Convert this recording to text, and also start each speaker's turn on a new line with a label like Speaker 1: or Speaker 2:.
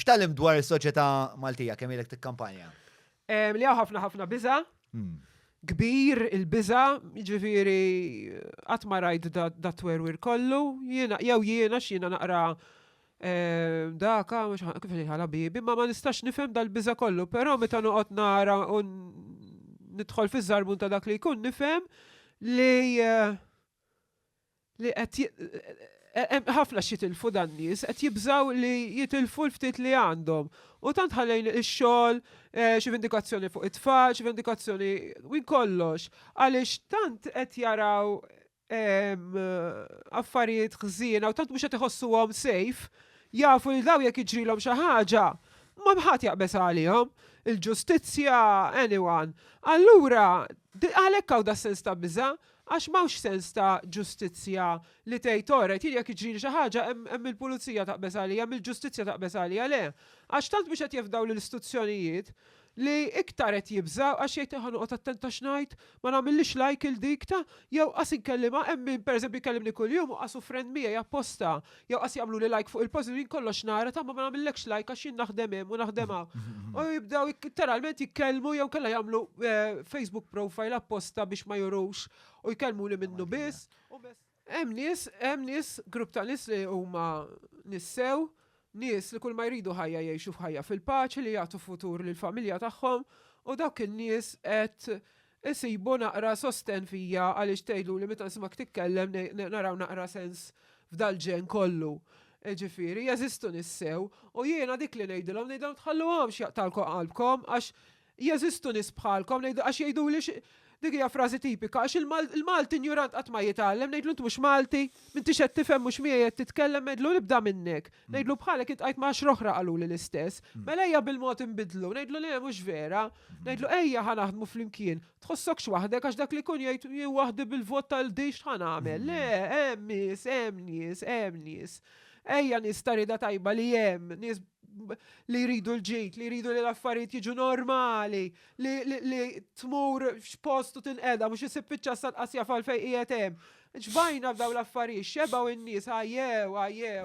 Speaker 1: X'tgħallimt dwar is-soċjetà Maltija kemm ilek tikkampanja? Li hawn ħafna ħafna biża. Hmm. Kbir il-biża, jiġifieri qatt ma rajt da twerwir kollu, jiena jew jiena x'jiena naqra eh, daka, mhux kif ħala bibi, ma ma nistax nifhem dal-biża kollu, però meta noqgħod nara u nidħol fiż-żarbun ta' dak li jkun nifhem li eh, li qed hemm ħafna x'jitilfu dan nies, qed jibżgħu li jitilfu l-ftit li għandhom. U tant ħallejn ix-xogħol, eh, xi vendikazzjoni fuq it-tfal, xi vendikazzjoni minn kollox, għaliex tant qed jaraw ehm, affarijiet ħżiena u tant mhux qed iħossuhom safe, jafu li daw jekk jiġrilhom xi ħaġa, ma bħat jaqbeż għalihom il-ġustizzja, anyone. Allura, għalhekk hawn da sens ta' biża, Għax m'hawnx sens ta' ġustizzja li tgħid orajt, jien jekk iġrili xi ħaġa hemm il-pulizija taqbeż għalija, hemm il-ġustizzja taqbeż għalija, le. Għax tant mhux qed jefdaw lill-istituzzjonijiet li iktar qed jibżgħu għax jgħid ħa noqgħod attent ta' x'ngħid, ma nagħmillix like 'il dik ta' jew qas inkellimha, hemm min pereżempju jkellimni kuljum u qas hu friend miegħi apposta Jew qas jagħmluli like fuq il-post jien kollox nara ta' ma ma nagħmillekx like għax jien naħdem hemm u naħdem hawn. U jibdew jik- literalment jitkellmu jew kellha jagħmlu eh, Facebook profile apposta biex ma jurux u jkellmuni minnu biss. Hemm nies, hemm nies, grupp ta' nies li huma nissew, nies li kull ma jridu ħajja jgħixu f'ħajja fil-paċi li jagħtu futur lill-familja tagħhom u dawk in-nies qed Insibu naqra sostenn fija għaliex tgħidluli meta nisimgħek titkellem naraw naqra sens f'dal-ġenn kollu. Jiġifieri, jeżistu nies sew, u jiena dik li ngħidilhom ngħidilhom tħalluhomx jaqtgħulkom qalbkom għax jeżistu nies bħalkom ngħidilhom għax jgħiduli dik hija frażi tipika għax il-Malti injurant qatt ma jitgħallem ngħidlu int mhux Malti? M'intix qed tifhem mhux miegħi qed titkellem ngħidlu nibda minnek. Ngħidlu bħalek int qajt ma' għaxra oħra qaluli l-istess. Mela ejja bil-mod inbidlu, ngħidlu le mhux vera. Ngħidlu ejja ħa naħdmu flimkien. Tħossokx waħdek għax dak li jkun jgħid jien waħdi bil-vot tal-din x'ħa nagħmel. Le, hemm nies, hemm nies, hemm nies. Ejja nies ta' rieda tajba li hemm, nies li jridu l-ġid, li jridu li l-affarijiet jiġu normali, li tmur x'post u tinqeda mhux isib iċ-ċassa tqasja fal fejn qiegħed hemm. Ġbajna f'dawn l-affarijiet, xebgħu n-nies, għajjew, għajjew.